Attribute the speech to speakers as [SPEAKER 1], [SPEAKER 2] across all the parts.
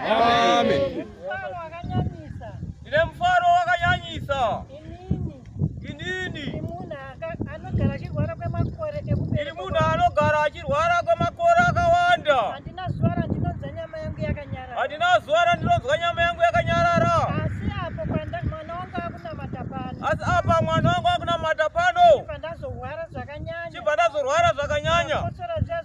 [SPEAKER 1] Amen.
[SPEAKER 2] Ndine mufaro wakanyanyisa. Inini. Ndiri munhu anogara achirwara kwemakore akawanda. Handina zuva randinonzwa nyama yangu yakanyarara. Handina zuva randinonzwa nyama yangu yakanyarara. Asi apo kwanda mwana wangu akunamata pano. Asi apa mwana wangu akunamata pano. Chibva ndazorwara zvakanyanya. Chibva ndazorwara zvakanyanya. Ndakotsora zviya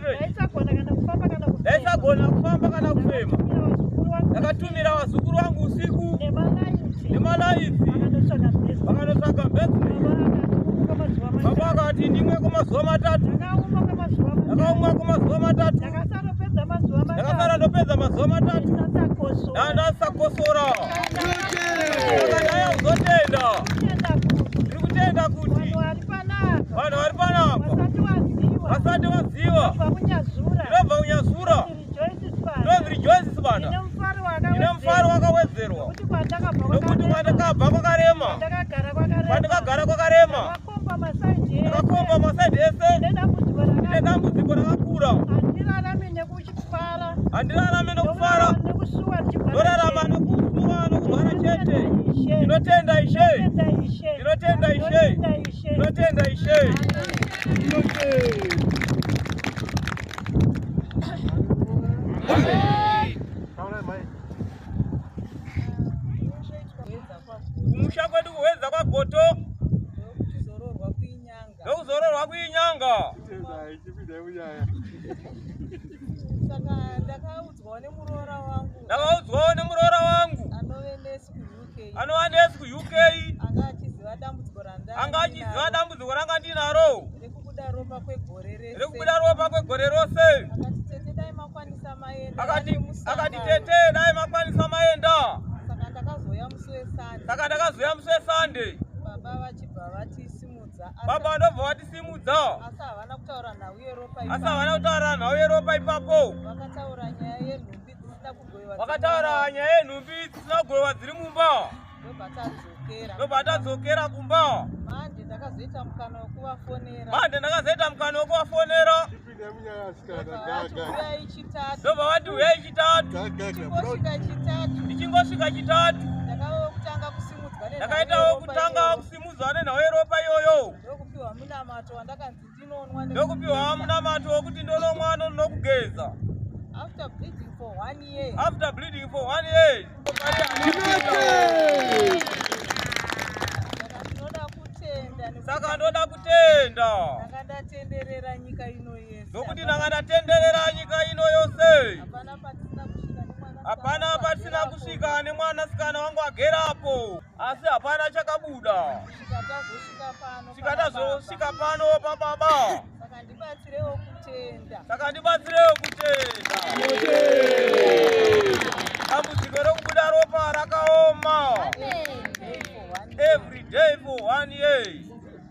[SPEAKER 2] ndaisagona kana kufamba kana kufema ndaisagona kufamba kana kufema ndakatumira vazukuru vangu usiku nemalaiti vakanotsvaga mbezi baba akati ndimwe kwemazuva matatu ndakaumwa kwemazuva matatu ndakasara ndopedza mazuva matatu ndandasakosora ndandaya kuzotenda vanhu vari panapa vasati vaziva ndinobva kunyazura ndinonzi rejoice sibanda ine mufaro wakawedzerwa nokuti mwandakabva kwakarema kwandikagara kwakarema ndakakomba masaidi ese nedambudziko rakakura handirarame nokufara ndorarama nokusuwa nokurwara chete ndinotenda ishe ndinotenda ishe ndinotenda ishe kumusha kwedu kuhwedza kwagoto ndokuzororwa kuinyanga saka
[SPEAKER 3] ndakaudzwawo nemuroora wangu ndakaudzwawo nemuroora wangu anove nesi kuuk
[SPEAKER 2] anova nesi kuuk anga achiziva dambudziko randa anga achiziva dambudziko ranga ndinaro rekubuda ropa
[SPEAKER 3] kwegore rese rekubuda ropa
[SPEAKER 2] kwegore rose akati tete dai makwanisa maenda akati tete dai makwanisa maenda saka ndakazouya musi wesande saka ndakazouya musi wesande baba vachibva vati baba vanobva vatisimudza asi havana
[SPEAKER 3] kutaura nhau yeropa asi havana kutaura
[SPEAKER 2] nhau yeropa ipapo vakataura nyaya yenhumbi dzisina kugoiwa vakataura nyaya yenhumbi dzisina kugoiwa dziri mumba ndobva tadzokera kumba manje ndakazoita
[SPEAKER 3] mukana wekuvafonera manje ndakazoita mukana
[SPEAKER 2] wekuvafonera ndobva vati huyai chitatu ndichingosvika chitatu ndakaitawo kutanga kusimudzwa nenhau yeropa iyoyo ndokupiwa munamato wokuti ndonomwa nokugeza
[SPEAKER 3] after bleeding for one year
[SPEAKER 2] saka ndoda kutenda
[SPEAKER 3] nokuti ndanga ndatenderera
[SPEAKER 2] nyika ino yose hapana patisina kusvika nemwanasikana wangu agerapo asi hapana chakabuda sika tazosvika pano pababa
[SPEAKER 3] saka ndibatsirewo kutenda saka ndibatsirewo
[SPEAKER 2] kutenda dambudziko rokubuda ropa rakaoma every day for one year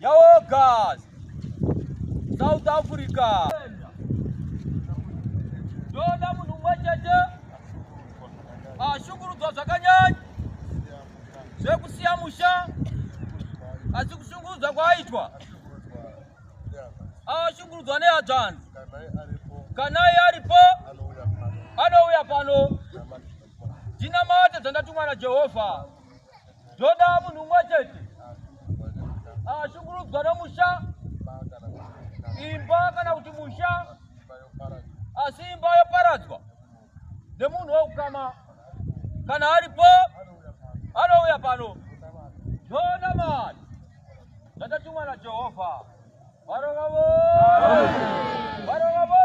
[SPEAKER 2] Yaogas South Africa ndoda munhu umwe chete ashungurudzwa zvakanyanya zvekusiya musha asi kushungurudzwa kwaaitwa ashungurudzwa nehadzvanzi kana iye aripo anouya pano ndinamate dzandatumwa najehovha zvoda munhu umwe chete ashungurudzwa nomusha imba kana kuti musha asi imba yoparadzwa nemunhu wekukama kana aripo anouya pano zvoda mari zvatatumwa najehovha varova vo varova vo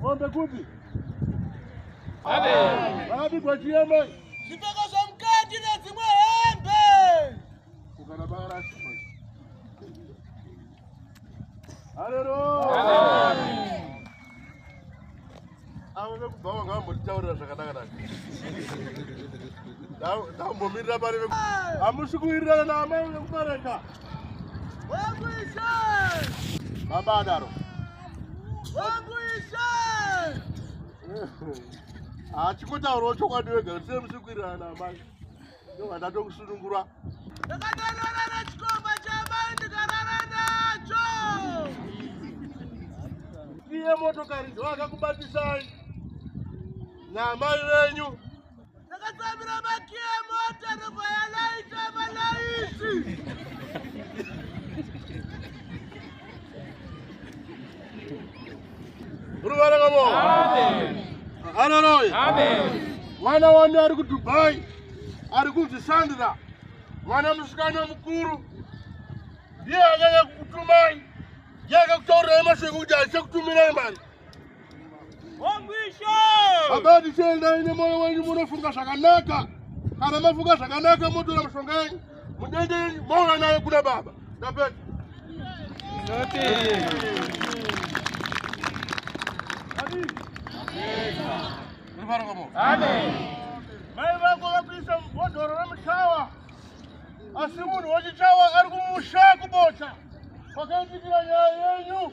[SPEAKER 1] Mombe kupi? Amen.
[SPEAKER 2] Wapi kwa chiyema?
[SPEAKER 1] Zipoko za
[SPEAKER 2] mkati na zimwe hembe. Kukana
[SPEAKER 1] bara shima. Haleluya. Amen. Awe kubhawa ngambo titaurira zvakanaka naka. Ndambomirira pari veku. Amusi kuwirirana na amai vekumareka.
[SPEAKER 2] Wekuishe.
[SPEAKER 1] Baba adaro.
[SPEAKER 2] hachikotaurawo
[SPEAKER 1] chokwadi wega kuti sei muchikwirirana naamai ndovada tokusunungura
[SPEAKER 2] ndakatorara nechikomba chaamai ndikarara nacho
[SPEAKER 1] iye motokari ndovakakubatisai naamai venyu
[SPEAKER 2] Takatsamira
[SPEAKER 1] makiya emota ndobva yalaita malaiti. Ruvara
[SPEAKER 2] kavo.
[SPEAKER 1] Haleluya.
[SPEAKER 2] Mwana wani ari
[SPEAKER 1] kuDubai ari kunzi Sandra. Mwana musikana mukuru ndiye akanya kukutumai. Ndiye akakutaurirai mashoko kuti achakutumirai mari.
[SPEAKER 2] Baba
[SPEAKER 1] tichienda ine moyo wenyu munofunga zvakanaka. Kana mafunga zvakanaka motora mishonga yenyu. Mudende yenyu mouya nayo kuna baba. Ndapedza.
[SPEAKER 2] Mai vako
[SPEAKER 1] vakuisa mubhodhoro remuchawa asi munhu wechichawa ari kumusha kubota kwakaitikira nyaya yenyu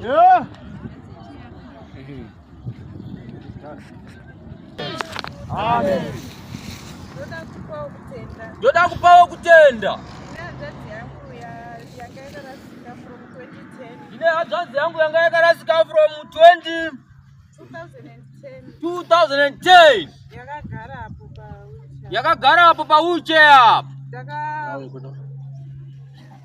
[SPEAKER 1] Yeah.
[SPEAKER 2] Amen.
[SPEAKER 3] Ndoda kupawo kutenda. Ine hadzvanzi yangu yanga yakarasika from 20 2010 yakagara apo pa wheelchair apo.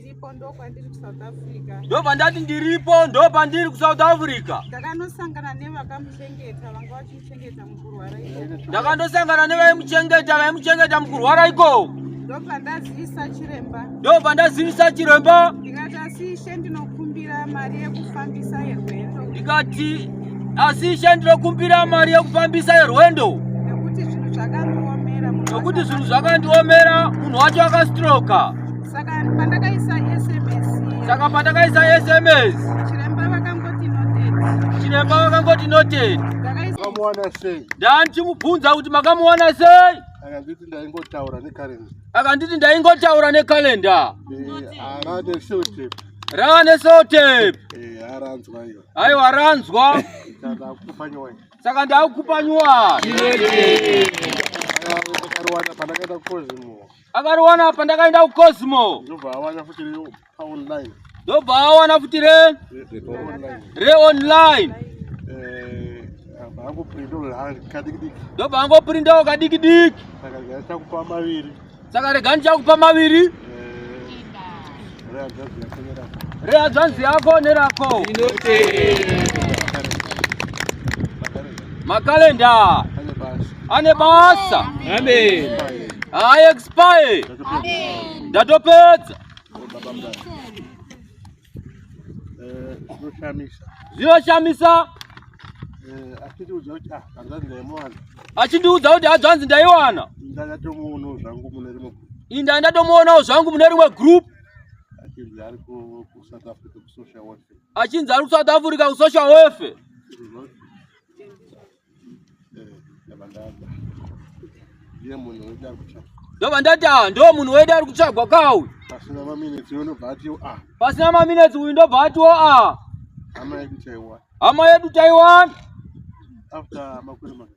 [SPEAKER 4] Ndipo ndo kwandiri ku South Africa. Ndo
[SPEAKER 3] pandati ndiripo ndo pandiri ku South Africa. Ndakanosangana
[SPEAKER 4] nevakamuchengeta vanga vachimuchengeta mukurwara ikoko. Ndakandosangana
[SPEAKER 3] nevaimuchengeta vaimuchengeta mukurwara ikoko. Ndo pandazivisa
[SPEAKER 4] chiremba. Ndo pandazivisa
[SPEAKER 3] chiremba. Ndikati asi ishe
[SPEAKER 4] ndinokumbira mari yekufambisa yerwendo. Ndikati
[SPEAKER 3] asi ishe ndinokumbira mari yekufambisa yerwendo. Nekuti zvinhu
[SPEAKER 4] zvakandiomera. Nekuti zvinhu
[SPEAKER 3] zvakandiomera munhu wacho akastroka.
[SPEAKER 4] saka pandakaisa sms saka
[SPEAKER 3] pandakaisa sms chiremba vakangoti
[SPEAKER 4] noted chiremba vakangoti
[SPEAKER 3] noted ndakaisamawana
[SPEAKER 1] sei ndandichimubvunza kuti
[SPEAKER 3] makamuwana sei akanditi ndaingotaura
[SPEAKER 1] nekalenda akanditi ndaingotaura
[SPEAKER 3] nekalenda
[SPEAKER 1] rane
[SPEAKER 3] sotape
[SPEAKER 1] aiwa ranzwa saka ndakukupa
[SPEAKER 3] nyuwani
[SPEAKER 1] Akariona apa
[SPEAKER 3] ndakaenda ku Cosmo. Ndobva awana futi re
[SPEAKER 1] online. Ndobva awana
[SPEAKER 3] futi re re online. Eh, hangu printo kadikidiki. Ndobva hangu printo kadikidiki. Saka rega ndichakupa maviri. Saka rega ndichakupa maviri. rehadzvanzi yako nerako makalenda ane basa
[SPEAKER 2] haaexpire
[SPEAKER 3] ndatopedza zvinoshamisa eh, achindiudza kuti hadzvanzi ndaiwana inda ndatomuonawo zvangu mune rimwe group achinzi ari kusouth africa kusocial welfare achinzi ari kusouth africa kusocial welfare ndobva ndati a ndo munhu wede ari kutsvagwa kauyu pasina maminetsi uyu ndobva atiwo a pasina maminetsi uyu ndobva atiwo a hama yedu taiwana hama yedu taiwana after makore maviri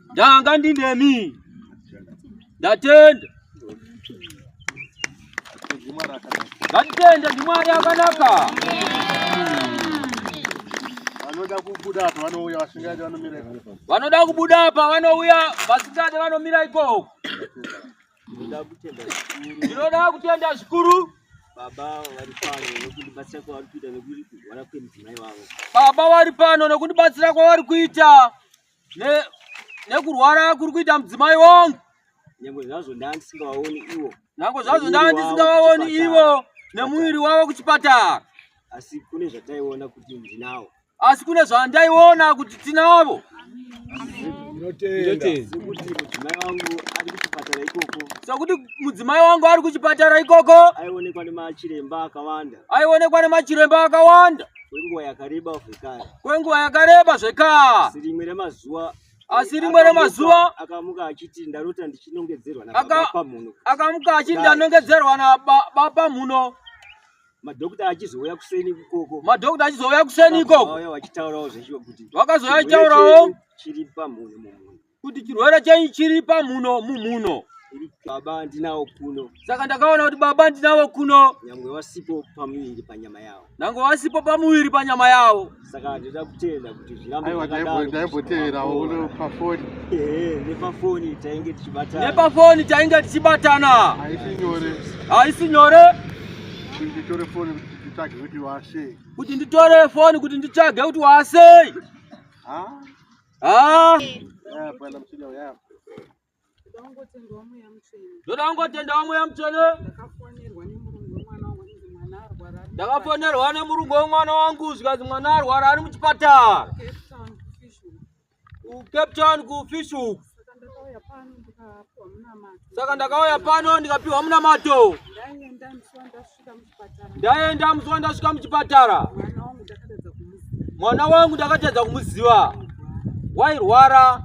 [SPEAKER 3] ndanga ndinemi ndatenda ngatitende ndimwari akanaka vanoda kubuda apa vanouya vasingade vanomira ikoko vanoda kubuda apa vanouya vasingade vanomira ikoko ndinoda kutenda zvikuru baba vari pano nokundibatsira kwavari kuita nokuti vana kwemudzimai vavo baba vari pano nokundibatsira kwavari kuita nekurwara kuri kuita mudzimai wangu nyange zvazvo
[SPEAKER 5] ndandisingawaoni ivo nyange zvazvo
[SPEAKER 3] ndandisingawaoni ivo nemuviri wavo kuchipatara asi kune
[SPEAKER 5] zvataiona kuti ndinawo asi kune
[SPEAKER 3] zvandaiona kuti tinavo sekuti mudzimai wangu ari kuchipatara ikoko aionekwa nemachiremba
[SPEAKER 5] akawanda aionekwa nemachiremba
[SPEAKER 3] akawanda kwenguva yakareba
[SPEAKER 5] zvekare kwenguva yakareba
[SPEAKER 3] zvekare asi rimwe remazuva asi rimwe remazuva akamuka achiti
[SPEAKER 5] ndarota ndichinongedzerwa nabapamuno akamuka achiti
[SPEAKER 3] ndanongedzerwa nabapamuno madhokta
[SPEAKER 5] achizouya kuseni ikoko madhokta achizouya kuseni
[SPEAKER 3] ikoko vakazouya achitaurawo
[SPEAKER 5] zvechikuti vakazouya achitaurawo
[SPEAKER 3] chiri pamhuni
[SPEAKER 5] mumhuni kuti chirwere chenyu
[SPEAKER 3] chiri pamuno mumhuno baba
[SPEAKER 5] ndinawo kuno saka ndakaona kuti baba
[SPEAKER 3] ndinawo kuno nyangwe wasipo
[SPEAKER 5] pamuviri panyama yawo nange wasipo pamuviri
[SPEAKER 3] panyama yawo saka ndoda kutenda
[SPEAKER 5] kuti zvirambodaimboteverawo
[SPEAKER 1] uno pafoni nepafoni
[SPEAKER 5] tainge tichibatana nepafoni tainge
[SPEAKER 3] tichibatana haisi nyore haisi nyore kuti nditore
[SPEAKER 1] foni kuti nditsvage kuti wasei kuti nditore
[SPEAKER 3] foni kuti nditsvage kuti wasei Ah. Ndoda kungotenda wamwe yamutsvene. Ndakafonerwa nemurungu wemwana wangu zvikanzi mwana arwara ari muchipatara. Cape Town kufish hook. Saka ndakauya pano ndikapiwa munamato. ndaenda muzuva ndasvika muchipatara mwana wangu ndakatadza kumuziva wairwara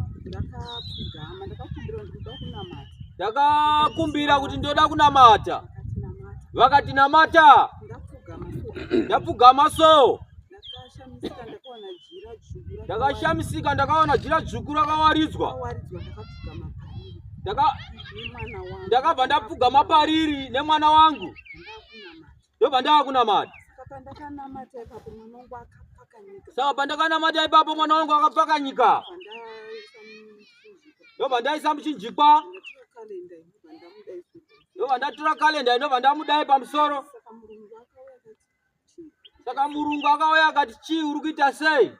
[SPEAKER 3] ndakakumbira kuti ndoda kunamata vakati namata ndapfugama so ndakashamisika ndakaona jira dzvuku rakawaridzwa ndakabva ndapfugama pariri nemwana wangu ndobva ndava kunamata saka pandakanamata ipapo mwana wangu akapfakanyika ndobva ndaisa muchinjikwa ndobva ndatora kalenda ndobva ndamudai pamusoro Saka Saka murungu akauya akati chii uri kuita sei?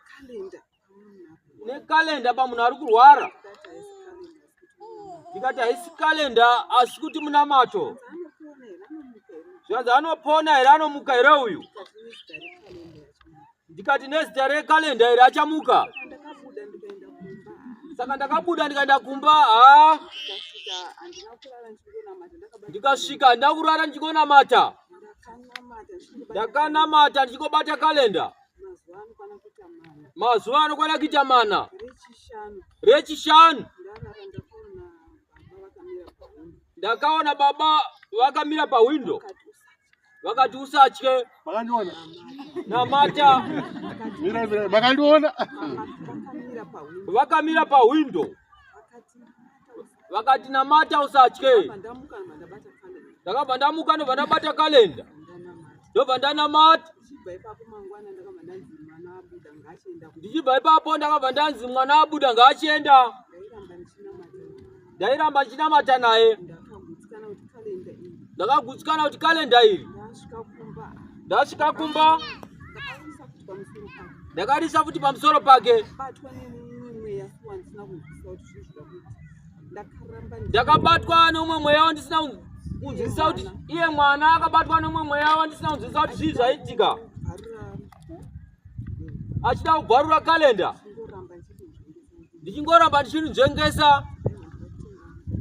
[SPEAKER 3] Nekalenda pamunhu ari kurwara. Ndikati haisi kalenda asi kuti munamato. Zvanzi anopona here anomuka here uyu? Ndikati nezita rekalenda here achamuka? Saka ndakabuda ndikaenda kumba. Ndikasvika handina kurara ndichigonamata. ndakanamata ndichingobata kalenda mazuva anokwana kuita mana rechishanu ndakaona baba vakamira pahwindo vakati usatye
[SPEAKER 1] namata vakandiona
[SPEAKER 3] vakamira pahwindo vakati namata usatye ndakabva ndamuka ndobva ndabata kalenda ndobva ndanamata ndichibva ipapo ndakabva ndanzi mwana abuda ngaachienda ndairamba ndichinamata naye ndakagutsikana kuti kalenda iri ndasvika kumba ndakarisa futi pamusoro pake ndakabatwa nomwe mweya wandisina kunzwisisa kuti iye mwana akabatwa nomwe mweya wandisina kunzwisisa kuti zvii zvaitika achida kubvarura kalenda ndichingoramba ndichinzvengesa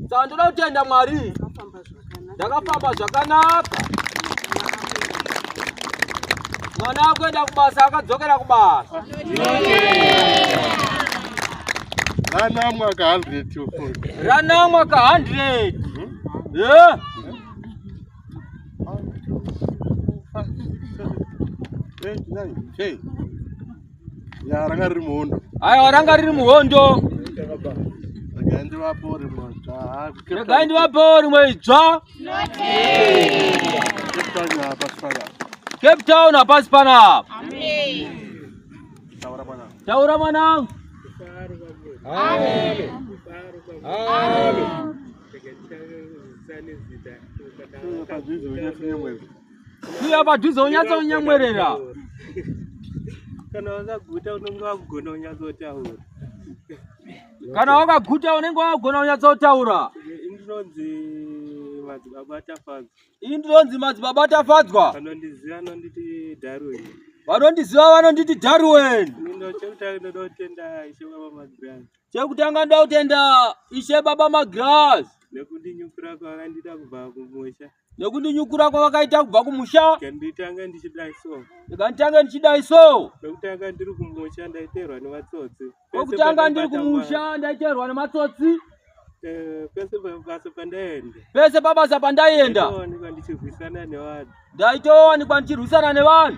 [SPEAKER 3] saka ndoda kutenda mwari ndakafamba zvakanaka mwana akuenda kubasa akadzokera kubasa
[SPEAKER 1] ranamwa ka 100 ranamwa ka 100
[SPEAKER 3] yeah.
[SPEAKER 1] Hey, hey. Ya ranga riri muhondo. Ayo ranga riri
[SPEAKER 3] muhondo. Regai
[SPEAKER 1] ndivapore mwatsva. Regai ndivapore
[SPEAKER 3] mwatsva. Cape Town hapasi pana. Cape Town hapasi pana. Amen. Taura mwana. Taura
[SPEAKER 5] mwana. Amen. Amen.
[SPEAKER 3] Amen. Uya padhuze unyatsa unyamwerera.
[SPEAKER 5] Kana wakaguta unenge wakugona unyatsa utaura.
[SPEAKER 3] Kana wakaguta unenge wakugona unyatsa utaura. Ndinonzi madzibaba atafadzwa. Ini ndinonzi madzibaba atafadzwa. Vanondiziva vanonditi
[SPEAKER 5] Darwin. Vanondiziva
[SPEAKER 3] vanonditi Darwin. Chekutanga ndoda kutenda Ishe Baba Magras. Nekundinyukura
[SPEAKER 5] kwakandiita kubva kumusha. nekundinyukura
[SPEAKER 3] kwavakaita kubva kumusha nditanga ndichidai
[SPEAKER 5] so ndikanditange ndichidai
[SPEAKER 3] so kwekutanga ndiri
[SPEAKER 5] kumusha ndaiterwa nematsotsi kwekutanga ndiri
[SPEAKER 3] kumusha ndaiterwa nematsotsi eh, pese pabasa
[SPEAKER 5] pandaenda pese pabasa pandaenda ndaitowanikwa
[SPEAKER 3] ndichirwisana nevanhu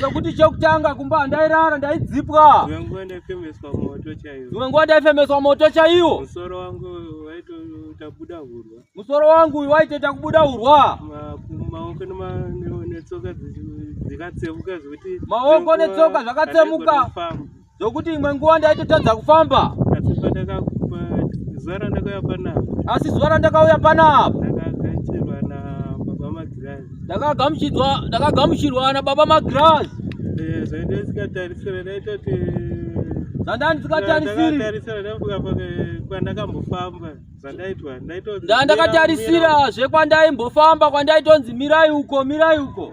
[SPEAKER 5] Sokuti chokutanga
[SPEAKER 3] kumba ndairara ndaidzipwa. Dzimwe nguva ndaifemeswa
[SPEAKER 5] moto chaiwo. Dzimwe nguva ndaifemeswa
[SPEAKER 3] moto chaiwo. Musoro wangu
[SPEAKER 5] waitoita kubuda hurwa. Musoro wangu
[SPEAKER 3] waitoita kubuda hurwa. Maoko
[SPEAKER 5] netsoka dzikatsemuka zvekuti maoko netsoka
[SPEAKER 3] zvakatsemuka. zvokuti imwe nguva ndaitotadza kufamba asi pandakakupa
[SPEAKER 5] zuva randakauya panapa asi zuva randakauya
[SPEAKER 3] panapa
[SPEAKER 5] ndakagamuchirwa ndakagamuchirwa nababa magirazi eh, zvandaisingatarisira ndaitoti zvandandisingatarisirandandakatarisira
[SPEAKER 3] zvekwandaimbofamba kwandaitonzi mirai uko mirai uko eh.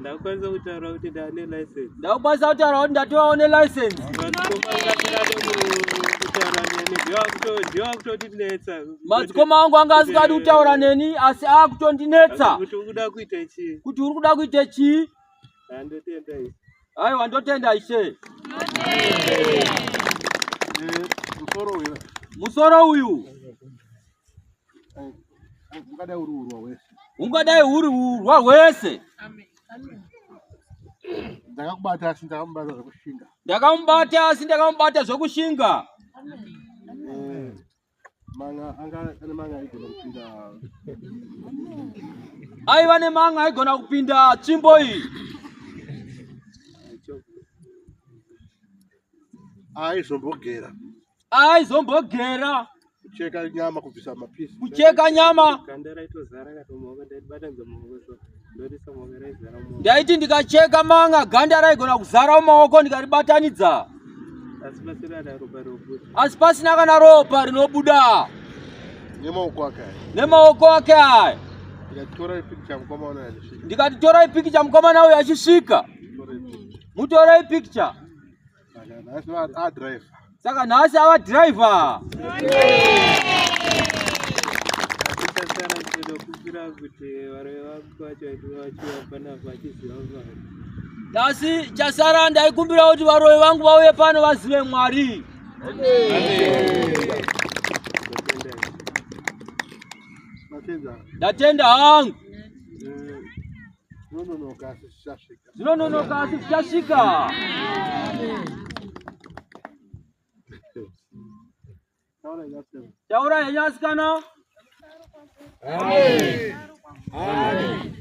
[SPEAKER 3] Ndakwanisa kutaura
[SPEAKER 5] kuti ndane license. Ndakwanisa kutaura kuti
[SPEAKER 3] ndatovawo ne license. Madzikoma angu anga asingadi kutaura neni asi akutondinetsa. Kuti uri kuda kuita
[SPEAKER 5] chii? Kuti uri kuda kuita
[SPEAKER 3] chii? Ndotenda
[SPEAKER 5] ishe. Aiwa ndotenda
[SPEAKER 3] ishe. Musoro uyu. Musoro uyu. ungadai uri urwa hwese
[SPEAKER 1] ndakamubata asi ndakamubata zvekushinga ndakamubata asi
[SPEAKER 3] ndakamubata zvekushinga eh, aiva nemanga aigona kupinda tsvimbo iyi aizombogera aizombogera kucheka
[SPEAKER 1] nyama kubvisa mapisi kucheka nyama
[SPEAKER 3] ndaiti ndikacheka manga ganda raigona kuzara mumaoko ndikaribatanidza asi pasina kana ropa rinobuda nemaoko ake aya nemaoko ake aya ndikati torai pikicha mukomana uyo achisvika mutorei pikicha saka nhasi ava driver nhasi chasara ndaikumbira kuti varoyi vangu vauye pano vazive mwari ndatenda hangu eh, Zvinononoka asi zvichasvika. Taura henyu asikana. Amen. Amen.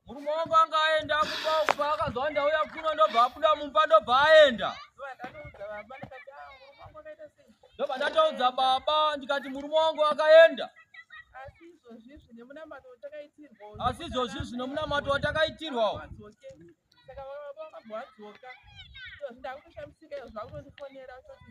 [SPEAKER 3] murume wangu anga aenda kumba kumba akanzwa ndauya kuno ndobva abuda mumba ndobva aenda ndobva ndataudza baba ndikati murume wangu akaenda asi izvozvi zvine munamato watakaitirwawo saka vavavavavadzoka ndakutoshamisika izvo zvakunondifonera kuti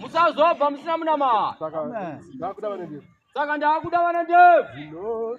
[SPEAKER 1] musazobva musina munamaha
[SPEAKER 3] saka
[SPEAKER 1] ndakuda
[SPEAKER 3] vana ndebvu